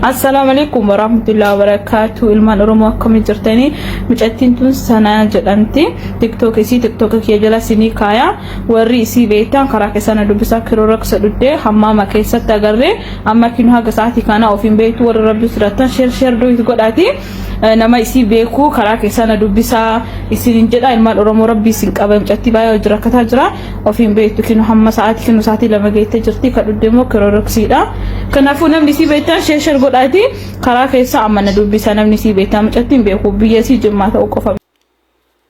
Assalaamu alaikum warahmatullahi wabarakatuh ilmaan oromoo akkamii jirtanii mucattiin tun sanaa jedhamti tiktook isii tiktook kiyya jala sinii kaaya warri isii beektan karaa keessana dubbisaa kiroo raksa dhuddee hammaama keessatti agarree amma kinu haga sa'aatii kana ofiin beektu warri rabbi sirrattan sheer sheer doyit godhaati Eh, nama isii beeku karaa keessaa na dubbisaa isin hin jedha ilmaan oromoo rabbii isin qaba mucattii baay'ee hojii rakkataa jira ofiin beektu kinu hamma sa'aatii kinu sa'aatii lama geettee jirti ka dhudde immoo kiroroksiidha kanaafuu namni isii beektan sheeshar godhaati karaa keessaa amma na dubbisa namni isii beektan mucattiin beeku biyya isii jimmaa ta'uu qofa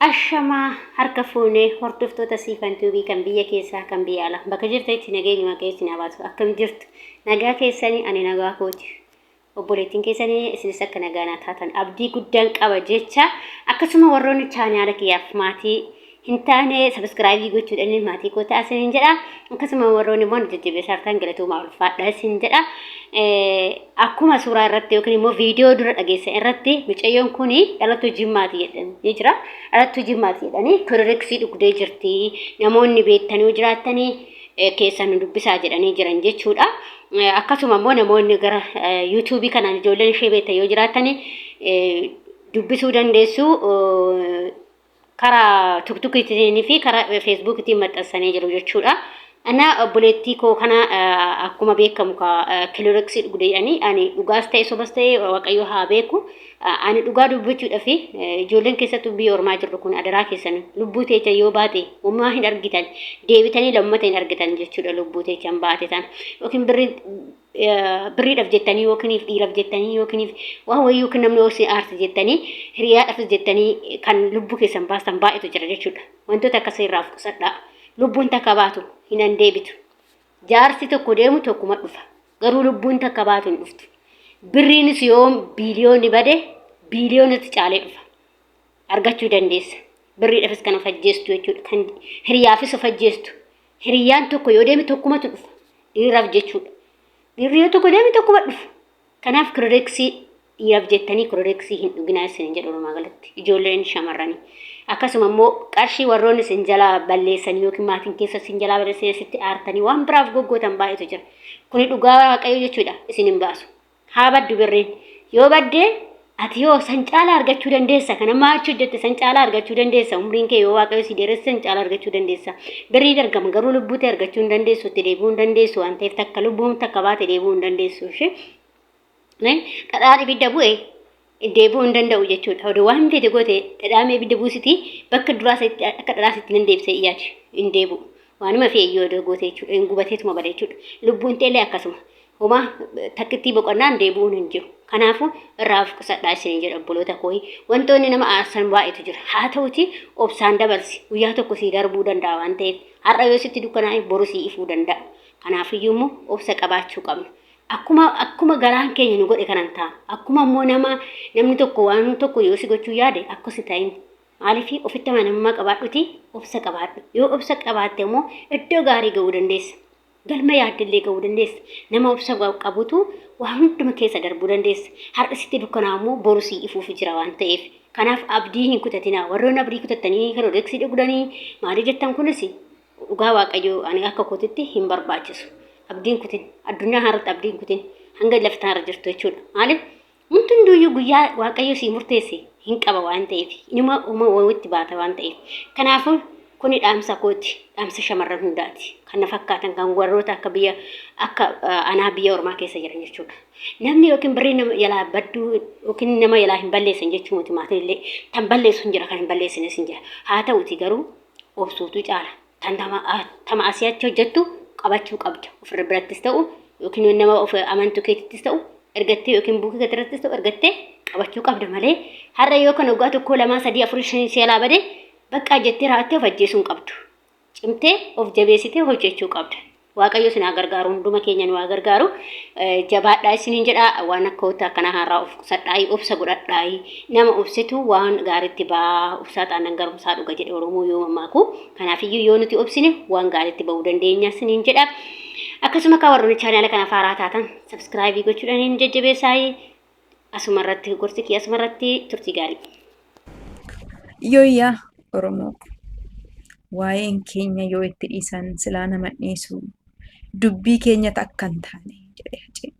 Ashamaa harka fuunee hordoftoota siifan tuubii kan biyya keessaa kan biyya alaa bakka jirtanitti nageenyi waaqayyo isin haa baatu akkam jirtu nagaa keessanii ani nagaa kooti Obboleettiin keessan isinis akka nagaa naa taatan abdii guddaan qaba jecha akkasuma warroonni chaanaala kiyyaaf maatii hin taane sabiskiraayibii gochuudhaan maatii koo ta'a isin jedha akkasuma warroonni immoo jajjabeessaartaan galatoomaa ulfaadha isin jedha akkuma suuraa irratti yookiin immoo viidiyoo dura dhageessan irratti mucayyoon kun dhalattuu jimmaati jedhanii jira dhalattuu jimmaati jedhanii kiririksii dhugdee jirti namoonni beektanii jiraattanii keessaa nu dubbisaa jedhanii jiran jechuudha. Akkasuma immoo namoonni gara yuutuubii kanaan ijoolleen ishee beektan yoo jiraattan dubbisuu dandeessu. Karaa tuktukiitiin fi karaa feesbuukiitiin maxxansanii jiru jechuudha. Ana obboleettii koo kana akkuma beekamu kilooreksii dhugdeedhani ani dhugaas ta'e sobas ta'e waaqayyo haa beeku. Ani dhugaa dubbachuudhaf ijoolleen keessattuu biyya ormaa jirru kun adaraa keessan lubbuu teechan yoo baate homaa hin argitan deebitanii lammata hin argitan jechuudha lubbuu teechan baate tan yookiin birri birriidhaf jettanii yookiniif dhiiraf jettanii yookiniif waan wayii yookiin namni hoosii aarti jettanii hiriyaadhafis jettanii kan lubbuu keessan baastan baay'eetu jira jechuudha wantoota akkasii irraa of qusadhaa lubbuun takka baatu hin deebitu jaarsi tokko deemu tokkuma dhufa Garuu lubbuun takka baatu hin dhuftu. Birriinis yoo biiliyoonni bade biiliyoonatti caalee dhufa. Argachuu dandeessa. Birriidhafis kan of ajjeestu jechuudha. Kan hiriyaafis of ajjeestu. Hiriyaan tokko yoo deeme tokkumatu dhufa. Dhiiraaf jechuudha. Dhiirri yoo tokko deeme tokkuma dhufa. Kanaaf kiredeksii Dhiiraf jettanii kiloreeksii hin dhuginaa isinin jedha walumaa galatti ijoolleen shamarranii. Akkasuma immoo qarshii warroonni isin jalaa balleessan yookiin maatiin keessa isin jalaa balleessan asitti aartanii waan biraaf goggootan baay'eetu jira. Kuni dhugaa waaqayyo jechuudha isin hin baasu. Haa baddu birriin. Yoo baddee ati yoo san caalaa argachuu dandeessa kan amma achi hojjette san caalaa argachuu dandeessa umriin kee yoo waaqayyo si dheeresse san caalaa argachuu dandeessa birriin argama garuu lubbuu ta'e argachuu hin dandeessu itti deebi'uu hin dandeessu waan ta'eef takka lubbuun takka baate deebi'uu hin dandeessu ishee Dhadhaan ibidda bu'e deebi'uu hin danda'u jechuudha. Oduu waan fedhe goote dhadhaamee ibidda buusiti bakka duraa isaatti akka dhadhaa isaatti nan deebisee yaadu hin deebi'u. Waanuma fe'e yoo oduu goote jechuudha. Hin gubateetuma bada jechuudha. Lubbuun ta'ellee akkasuma. Homaa takkittii boqonnaan deebi'uun hin jiru. Kanaafuu irraa of qusadhaa isin jedha obboloota kooyi. Wantoonni nama aarsan baay'eetu jira. Haa ta'uti obsaan dabarsi. Guyyaa tokko sii darbuu danda'a waan ta'eef. Har'a yoo sitti dukkanaa'e boru sii ifuu danda'a. Kanaafiyyuu immoo obsa qabaachuu qabna. Akkuma akkuma garaan keenya nu godhe kanan ta'a. Akkuma immoo nama namni tokko waan tokko yoo si gochuu yaade akka si ta'in. Maaliif ofitti amanamummaa qabaadhuti obsa qabaadhu. Yoo obsa qabaatte immoo iddoo gaarii ga'uu dandeessa. Galma yaaddellee ga'uu dandeessa. Nama obsa qabutu waa hunduma keessa darbuu dandeessa. Har'a sitti dukkanaa immoo boru sii ifuufi jira waan ta'eef. Kanaaf abdii hin kutatinaa. Warroon abdii kutattanii Herodeksii dhugdanii maalii jettan kunis Dhugaa waaqayyoo ani akka kootitti hin barbaachisu. Abdiin kutin addunyaa haarratti abdiin kutin hanga lafti haara jirtu jechuudha. Maaliif wanti hunduyyuu guyyaa waaqayyo sii murteesse hin qaba waan ta'eef inuma uma wawitti baata waan ta'eef. Kanaafuu kuni dhaamsa kooti dhaamsa shamarran hundaati. Kan na fakkaatan kan warroota akka biyya akka anaa biyya ormaa keessa jiran jechuudha. Namni yookiin birrii nama jalaa badduu yookiin nama jalaa hin balleessan jechuu miti maatiin illee kan balleessu hin jira kan hin balleessines hin jira. Haa ta'uti garuu obsuutu caala. Tan tama, a- tama asii achi hojjettu qabachuu qabda. Ofirra birattis ta'u yookiin nama of amantu keetittis ta'u ergattee yookiin buukii keetirrattis ta'u ergattee qabachuu qabda malee har'a yoo kan waggaa tokkoo lamaa sadii afurii shanii si alaa bade baqqaa jettee raa'attee of ajjeesuu hin qabdu. Cimtee of jabeessitee hojjechuu qabda. Waaqayyo isin haa gargaaru hunduma keenya nu haa gargaaru jabaadhaa isiniin jedha waan akka wanta akkanaa haaraa of qusadhaayii obsa godhadhaayii nama obsetu waan gaariitti ba'aa obsaa taanaan garumsaa dhuga jedhe oromoo yoo mammaaku kanaafiyyuu yoo nuti obsine waan gaariitti ba'uu dandeenya isiniin jedha akkasuma kaa warroonni chaanaala kanaaf haaraa taatan sabskraayibii gochuudhaan hin jajjabeessaayii Asuma irratti gorsi kiyya asuma irratti turtii gaarii. Yooyyaa Oromoo ko. Waa'een keenya yoo itti dhiisan silaa nama dhiisu dubbii keenya takka hin taane jedhee hacee.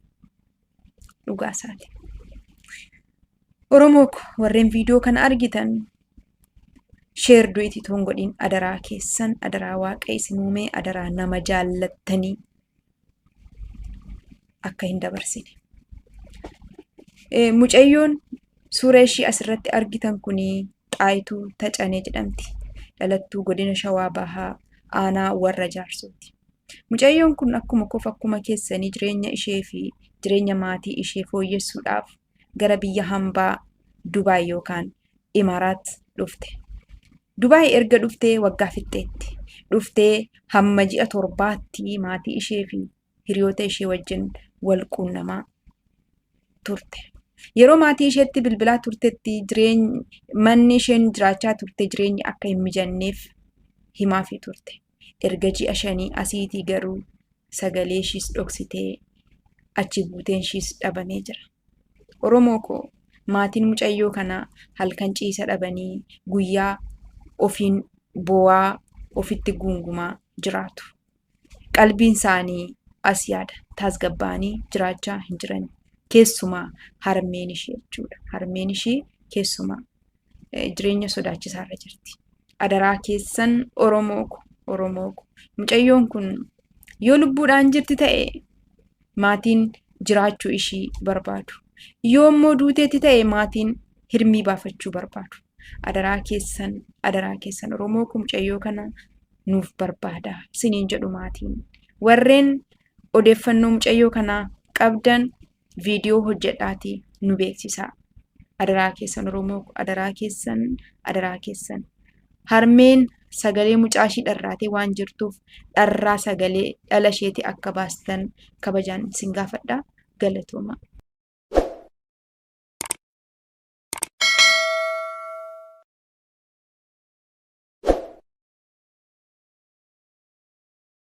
Dhugaa isaati. Oromoo ko warreen viidiyoo kana argitan sheer du'iti toon godhiin adaraa keessan adaraa waaqa isin uumee adaraa nama jaallattanii akka hin dabarsine. Mucayyoon suura ishii asirratti argitan kun Xaayituu Tacanee jedhamti. Dhalattuu godina Shawaa Bahaa aanaa warra jaarsooti. Mucayyoon kun akkuma kof akkuma keessanii jireenya ishee fi jireenya maatii ishee fooyyessuudhaaf gara biyya hambaa Dubaay yookaan Imaaraat dhufte. Dubaay erga dhuftee waggaa fixxeetti. Dhuftee hamma ji'a torbaatti maatii ishee fi hiriyoota ishee wajjin wal quunnamaa turte. Yeroo maatii isheetti bilbilaa turtetti jireeny- manni isheen jiraachaa turte jireenyi akka hin mijanneef himaafii turte. Erga ji'a shanii asiitii garuu sagalee ishiis dhoksitee achi buuteen ishiis dhabamee jira. Oromoo koo maatiin mucayyoo kanaa halkan ciisa dhabanii guyyaa ofiin boo'aa ofitti guungumaa jiraatu. Qalbiin isaanii as yaada taasgabbaa'anii jiraachaa hin jiran. Keessumaa harmeen ishii jechuudha. Harmeen ishii keessumaa jireenya sodaachisaa irra jirti. Adaraa keessan Oromoo ko Oromoo ko mucayyoon kun yoo lubbuudhaan jirti ta'e maatiin jiraachuu ishii barbaadu. Yoo immoo duuteetti ta'e maatiin hirmii baafachuu barbaadu. Adaraa keessan adaraa keessan Oromoo ko mucayyoo kana nuuf barbaada isiniin jedhu maatiin. Warreen odeeffannoo mucayyoo kanaa qabdan viidiyoo hojjedhaatii nu beeksisaa. Adaraa keessan Oromoo ko adaraa keessan adaraa keessan. Harmeen sagalee mucaa ishii dharraatee waan jirtuuf dharraa sagalee dhala isheetii akka baastan kabajaan isin gaafadha. Galatoomaa.